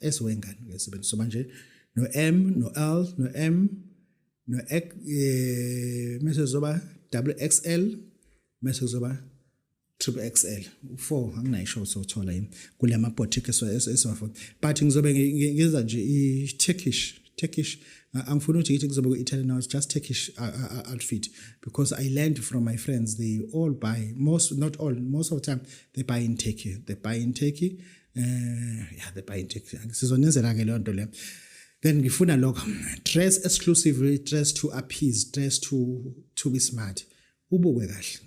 esiwengane ke sebenzi so manje no M no L no M no X eh mase zoba double XL mase zoba triple XL u4 anginayisho sothola yini kulama boutique esiwafuna but ngizobe ngiza nje i Turkish Turkish angifuni ukuthi ngithi kuzobe ku-Italian now it's just Turkish outfit because I learned from my friends they all buy most not all most of the time they buy in Turkey they buy in Turkey eh yeah the buy check sizonenzela ke lonto le then ngifuna lokho dress exclusively dress to appease dress to to be smart ubukwe kahle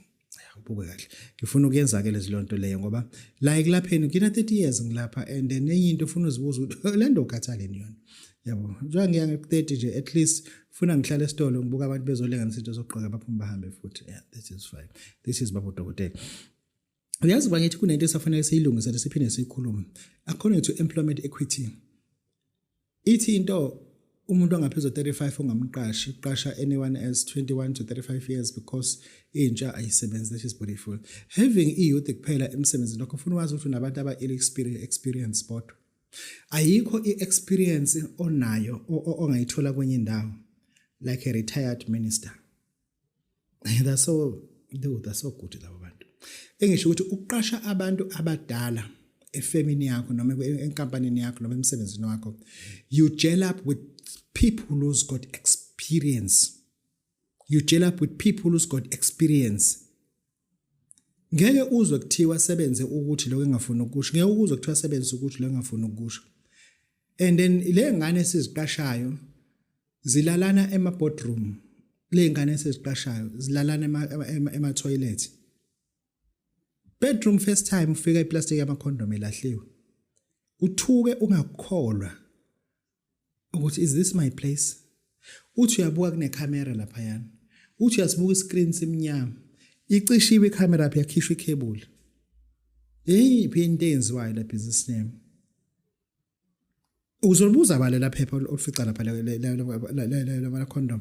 ubukwe kahle ngifuna ukuyenza ke lezilonto leyo ngoba la ekulapheni ngina 30 years ngilapha and then enye into ufuna uzibuza ukuthi le nto ukhathaleni yona yabo njengoba ngiya nge-30 nje at least funa ngihlale esitolo ngibuka abantu bezolenganisa into zokugqoka baphume bahambe futhi yeah this is fine this is babo dokotela uyazi uba ngithi kunento esafanele siyilungisele siphinde siyikhulume according to employment equity ithi into umuntu ongaphezu 35 ongamqashi uqasha anyone as 21 to 35 years because intsha ayisebenzi that is beautiful having i youth kuphela emsebenzini lokho ufuna wazi ukuthi unabantu aba experience experience sport ayikho i experience onayo ongayithola kwenye indawo like a retired minister that's so no that's so good laba bantu engisho ukuthi uqasha abantu abadala efemini yakho noma enkampanini yakho noma emsebenzini wakho you gel up with people who's got experience you gel up with people who's got experience ngeke uzwe kuthiwa sebenze ukuthi lokho engafuni ukusho ngeke ukuzwe kuthiwa sebenze ukuthi lokho engafuni ukusho and then le ngane esiziqashayo zilalana ema boardroom le ngane esiziqashayo zilalana ema ema toilet bedroom first time ufika iplastic yama condom elahliwe uthuke ungakholwa ukuthi is this my place uthi uyabuka kunecamera laphayana uthi uyasibuka iscreen simnyama icishiwe icamera phi yakhishwa icable hey phi into enziwayo la business name uzolibuza bale laphepha olufica lapha la condom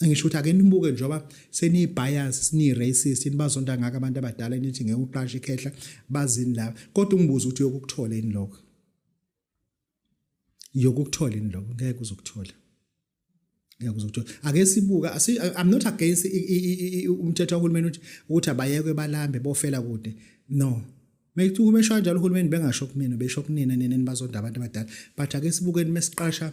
ngisho ukuthi ake nibuke njengoba seniyi-bias seniyi-racist yini bazonda ngako abantu abadala nithi ngeke uqashe ikhehla bazini la kodwa ungibuza ukuthi yokukuthola yini lokho yokukuthola yini lokho ngeke uzokuthola ngeke uzokuthola ake sibuka i'm not against umthetho kahulumeni ukuthi ukuthi abayekwe balambe bofela kude no Methi uma esho kanjalo uhulumeni bengasho kumina besho kunina nina nibazonda abantu abadala but ake sibukeni mesiqasha